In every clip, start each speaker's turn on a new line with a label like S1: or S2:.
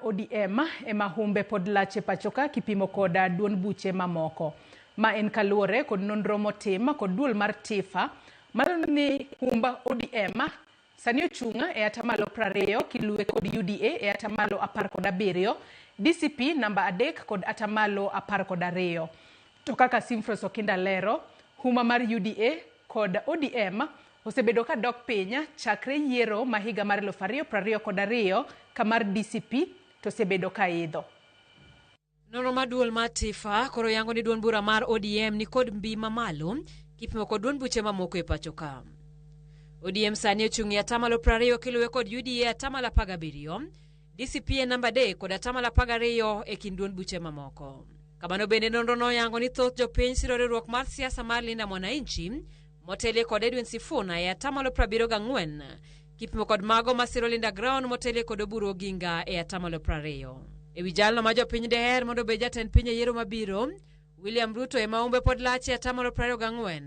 S1: ODM ema humbe pod lach e pachoka kipimo kod duond buche mamoko. Ma en kaluwore kod nonro motim kod duol mar TIFA malando ni humb ODM sani ochung' e atamalo prariyo kiluwe kod UDA e atamalo apar kod abiriyo, DCP namba adek kod atamalo apar kod ariyo. To kaka Simfros Okinda lero, huma mar UDA kod ODM Osebedo ka dok piny chakre yiero ma higa mar eluf ariyo prariyo kod ariyo ka mar DCP to osebedo ka idho.
S2: Nonro mar duol mar Tifa koro yango ni duond bura mar ODM ni kod mbii mamalo kipimo kod duond buche mamoko e pacho ka. ODM sani ochung' e atamalo prariyo kiluwe kod UDA e atamalo apar gabiriyo, DCP e namba adek kod atamalo apar gariyo e kind duond buche mamoko. Kamano bende nonro no oyango ni thoth jopiny siro riwruok mar siasa mar Linda Mwananchi motelie kod Edwin Sifuna e atamalo 74 kipimo kod mago ma siro Linda Ground motelie kod Oburu Oginga e atamalo 20. E wi jalno ma jopiny deher mondo obed jatend piny e yiero mabiro, William Ruto ema umbe pod lach e atamalo 24.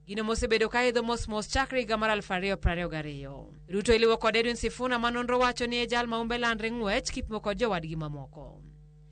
S2: Gino mosebedo ka idho mos mos chakre higa mar 2022. Ruto iliwo kod Edwin Sifuna ma nonro wacho ni e jal ma umbe landre ng'wech kipimo kod jowadgi mamoko.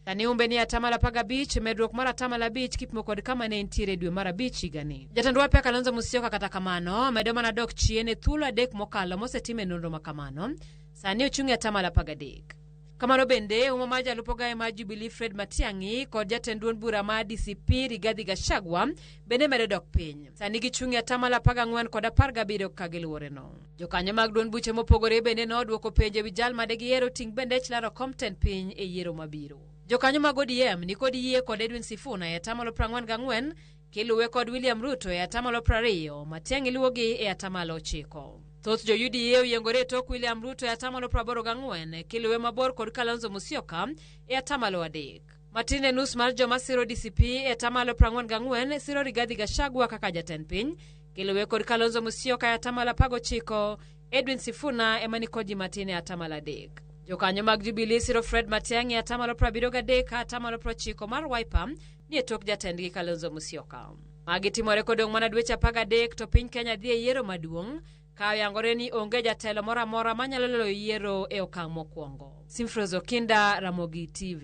S2: Kane umbe ni atamalo apar gabich, medruok mar atamalo abich kipimo kod kama ne entiere dwe mar abich higani. Jatend Wapya Kalonzo Musyoka kata kamano medo mana dok chien e thuolo adek mokalo mosetime nonro ma kamano. Sani ochung' e atamalo apar gadek. Kamano bende, uma mar jalup ogaye mar Jubilee Fred Matiang'i kod jatend duond bura mar DCP Rigathi Gachagua bende medo dok piny. Sani gichung' e atamalo apar gang'wen kod apar gabiriyo kaka giluworeno. Jokanyo mag duond buche mopogore bende nodwoko penjo e wi jal ma de gihero ting' bendech laro kom tend piny e yiero mabiro. Jokanyo mag ODM ni kod yie kod Edwin Sifuna e atamalo prang'wen gang'wen, kiluwe kod William Ruto e atamalo prariyo, Matiang'i luwogi e atamalo ochiko. Thoth jo UDA oyiengore e tok William Ruto e atamalo praboro gang'wen, kiluwe mabor kod Kalonzo Musyoka e atamalo adek. Matin e nus mar joma siro DCP e atamalo 44 siro Rigathi Gachagua kaka jatend piny, kiluwe kod Kalonzo Musyoka e atamalo 19, Edwin Sifuna ema ni kod ji matin e atamalo adek. Jokanyo mag Jubilee siro Fred Matiang'i e atamalo 73 ka atamalo 90 mar Wiper ni e tok jatendgi Kalonzo Musyoka. Magi timore kodong' mana dweche 13 to piny Kenya dhi e yiero maduong'. Ka oyangore ni onge jatelo moro amora manyalo loyo yiero e okang' mokwongo. Simfroz Okinda, Ramogi TV.